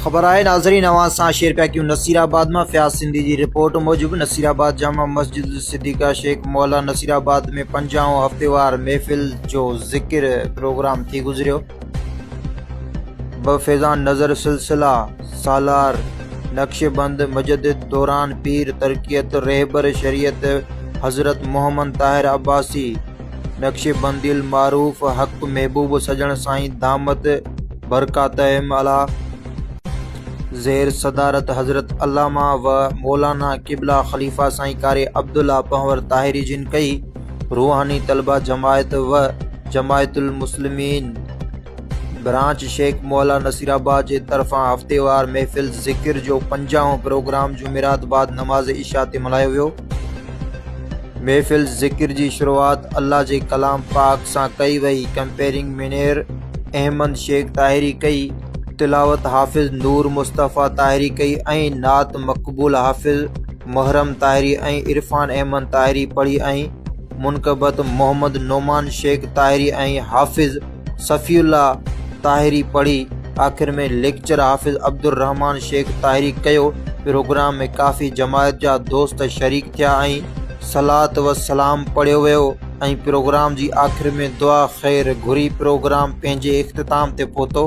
خبر آهي ناظرين اوهان سان شيئر پيا ڪيون نصير آباد مان فياض سنڌي جي رپورٽ موجب نصير آباد جامع مسجد صديقه شيخ مولا نصير آباد ۾ پنجاهون هفتيوار محفل جو ذڪر پروگرام ٿي گذريو ٻه فيضان نظر سلسله سالار نقشبند مجدد دوران پير ترقيت رهبر شريعت حضرت محمد طاهر عباسي نقشبندي المعروف حق محبوب سڄڻ سائين دامت برڪاتهم علا زير صدارت حضرت علامه و مولانا قبله خليفه سائين قاري عبدالله پنهور طاهري جن ڪئي روحاني طلبه جماعت و جماعت المسلمين برانچ شيخ مولا نصير آباد جي طرفان هفتيوار محفل ذڪر جو پنجاهون پروگرام جمعرات بعد نماز عشاء تي ملهايو ويو محفل ذڪر جي شروعات الله جي ڪلام پاڪ سان ڪئي وئي، ڪمپيئرنگ منير احمد شيخ طاهري ڪئي، تلاوت حافظ نور مصطفيٰ طاهري ڪئي ۽ نعت مقبول حافظ محرم طاهري ۽ عرفان احمد طاهري پڙهي ۽ منقبت محمد نعمان شيخ طاهري ۽ حافظ صفي الله طاهري پڙهي آخر ۾ ليڪچر حافظ عبدالرحمان شيخ طاهري ڪيو پروگرام ۾ ڪافي جماعت جا دوست شريڪ ٿيا ۽ صلات و سلام پڙهيو ويو ۽ پروگرام جي آخر ۾ دعا خير گهري پروگرام پنهنجي اختتام تي پهتو.